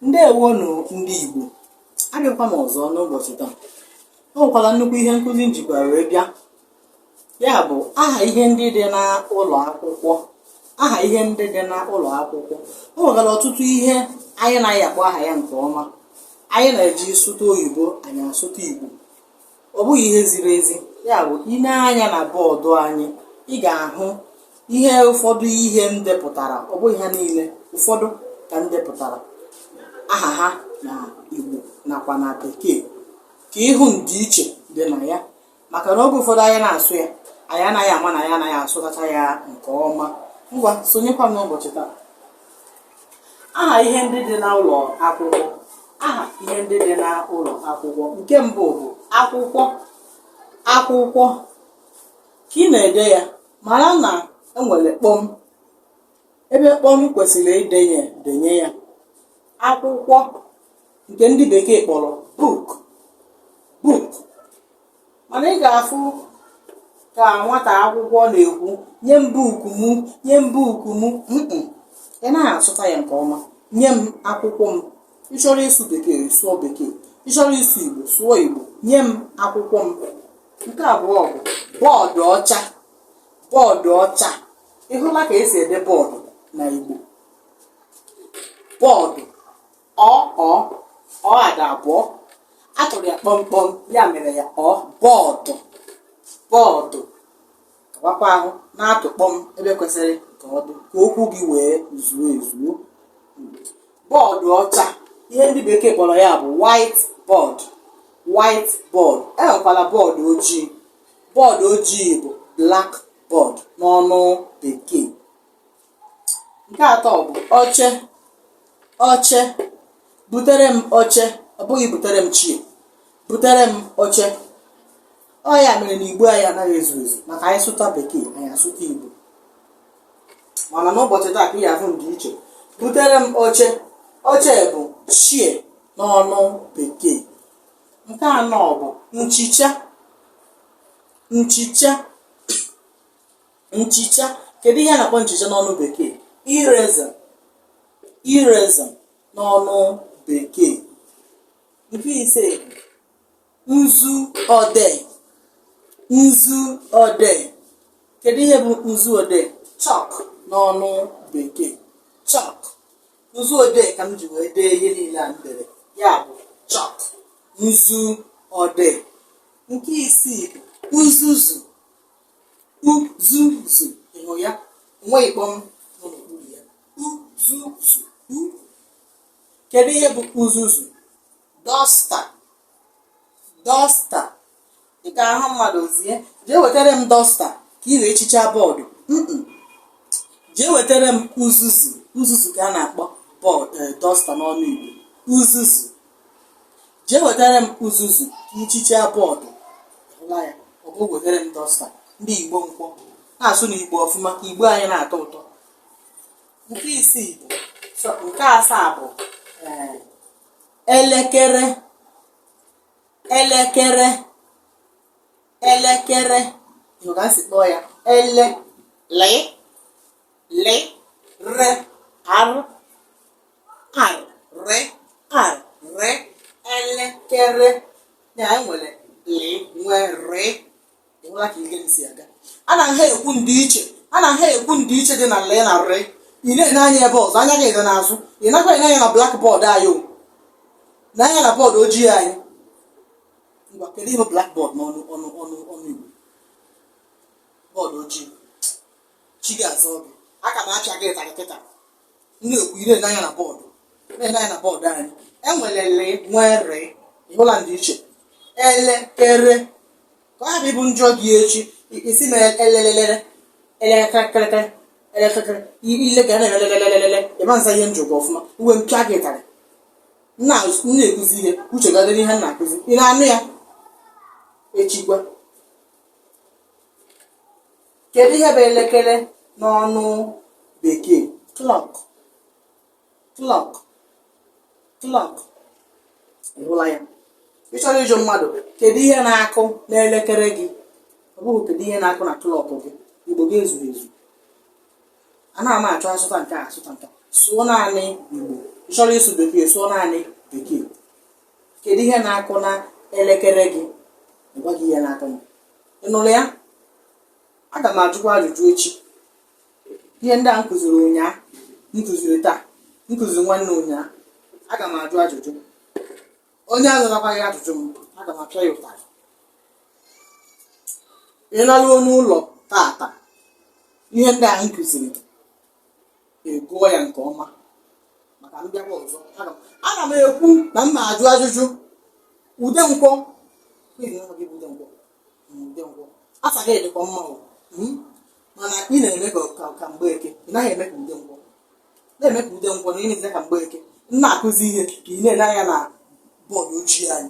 ndewonụ ndị Igbo abịakwa m ọzọ n'ụbọchị taa o nwekwara nnukwu ihe nkụzi m jikwa wee bịa ya bụ aha ihe ndị dị n'ụlọ akwụkwọ aha ihe ndị dị n'ụlọ akwụkwọ o nwekwara ọtụtụ ihe anyị anaghị akpọ aha ya nke ọma anyị na-eji sụta oyibo anyị asụta igbo ọ bụghị ihe ziri ezi ya bụ i nee anya na bọọdụ anyị ị ga-ahụ ihe ụfọdụ ihe m depụtara ọ bụghị ha niile ụfọdụ ka m depụtara aha ha na igbo nakwa na bekee ka ị hụ ndịiche dị na ya maka na oge ụfọdụ anyị na-asụ ya anyị anaghị ama na anyị anaghị asụtacha ya nke ọma ngwa sonyekwa m n'ụbọchị taa aha ihe ndị dị n'ụlọ akwụkwọ aha ihe ndị dị n'ụlọ akwụkwọ nke mbụ bụ akwụkwọ akwụkwọ ka ị na-ede ya mara na enwere kpọm ebe kpọm kwesịrị idenye denye ya akwụkwọ nke ndị bekee kpọrọ book book mana ị ga-afụ ka nwata akwụkwọ na-ekwu nye m buku m nye m buku m mm-mm. ị naghị asụta ya nke ọma nye m akwụkwọ m ị chọrọ ịsụ bekee sụọ bekee ị chọrọ ịsụ igbo sụọ igbo nye m akwụkwọ m nke abụọ bụ bọọdụ ọcha bọọdụ ọcha ị hụla ka esi ede bọọdụ na igbo bọọdụ ọ ọ ọ a dị abụọ a tụrụ ya kpọm kpọm ya mere ya ọ bọọdụ bọọdụ kawakwa ahụ na-atụ kpọm ebe kwesịrị ka ọ dị ka okwu gị wee zuo ezuo bọọdụ ọcha ihe ndị bekee kpọrọ ya bụ white board white board enwekwara bọọdụ ojii bọọdụ ojii bụ black board n'ọnụ bekee nke atọ bụ oche oche butere m oche ọ bụghị butere m chair butere m oche ọ ya mere na igbo anyị anaghị ezu ezu maka anyị sụta bekee anyị asụta igbo mana n'ụbọchị taa ka ị ga-ahụ ndịiche butere m oche oche bụ chair n'ọnụ bekee nke anọ bụ nchicha nchicha nchicha kedu ihe a na-akpọ nchicha n'ọnụ bekee eraser eraser n'ọnụ bekee nke ise nzu odee nzu odee kedu ihe bụ nzu odee chalk n'ọnụ bekee chalk nzu odee ka m ji wee dee ihe niile a m dere ya bụ chalk nzu odee nke isii bụ uzuzu uzuzu ị hụ ya o nweghị kpọm nọ n'okpuru ya uzuzu u kedu ihe bụ uzuzu dọsta dọsta ị ga-ahụ mmadụ zie jee wetara m dọsta ka ị wee chichaa bọọdụ Mm-mm. jee wetara m uzuzu uzuzu ka a na-akpọ bọọdụ dọsta n'ọnụ igbo uzuzu jee wetara m uzuzu nchicha bọọdụ hụla ya ọ bụghị wetara m dọsta ndị igbo nkwọ na-asụ na igbo ọfụma ka igbo anyị na-atọ ụtọ nke isii bụ so nke asaa bụ ee, elekere elekere elekere ị nụ ka m si kpọọ ya ele le le re arụ arị arị elekere ya anyị nwere lị nwee rị ịhụla ka ihe m si aga a na ha ekwu ndịiche a na ha ekwu ndịiche dị na lị na rị ị na-ene anya ebe ọzọ anya gị dị n'azụ ị naghị ene anya na blakbọọdụ anyị o na anya na bọọdụ ojii anyị ngwa kedu ihe blakbọọdụ n'ọnụ ọnụ ọnụ ọnụ igbo bọọdụ ojii chi ga-azọ gị aka m acha gị ịtarị kịta na-ekwu ị na-ene anya na bọọdụ na-ele anya na bọọdụ anyị nwere lị nwee rị ịhụla ndị iche elekere ka ọ ghara ịbụ m jụọ gị echi i- ị sị na elelelele elekekere elekekere ile ga na-elelelelele ị ma aza ihe m jụrụ gị ọfụma m wee pịa gị ịtarị m na-akụzi ihe uche gị adịrị n'ihe m na-akụzi ị na-anụ ya echikwa kedu ihe bụ elekere n'ọnụ bekee clock clock clock ịhụla ya ị chọrọ ịjụ mmadụ kedu ihe na-akụ n'elekere gị ọ bụghị kedu ihe na-akụ na klọk gị igbo gị ezughị ezu anaghị m achọ asụta nke a asụta nke a. sụọ naanị igbo ị chọrọ ịsụ bekee sụọ naanị bekee kedu ihe na-akụ na elekere gị ọ gwa gị ihe na-akụ na ị nụrụ ya aga m ajụkwa ajụjụ echi ihe ndị a m kụziri ụnyaahụ m kụziri taa m kụziri nwanne ụnyaahụ aga m ajụ ajụjụ onye azatakwaghị ajụjụ m aga m apịa ya ụtarị ị laruo n'ụlọ tata ihe ndị a m kụziri ị gụọ ya nke ọma maka m bịa ọzọ Aga m- ana m ekwu na m na-ajụ ajụjụ Udenkwọ na aha gị bụ Udenkwọ Mm, Udenkwọ aha gị dịkwa mma o Mm? mana ị na-eme ka ka- ka Mgbeke ị naghị eme ka Udenkwọ na-eme ka Udenkwọ na ị na-eme ka Mgbeke m na-akụzi ihe ka ị na-ele anya na bọọdụ ojii anyị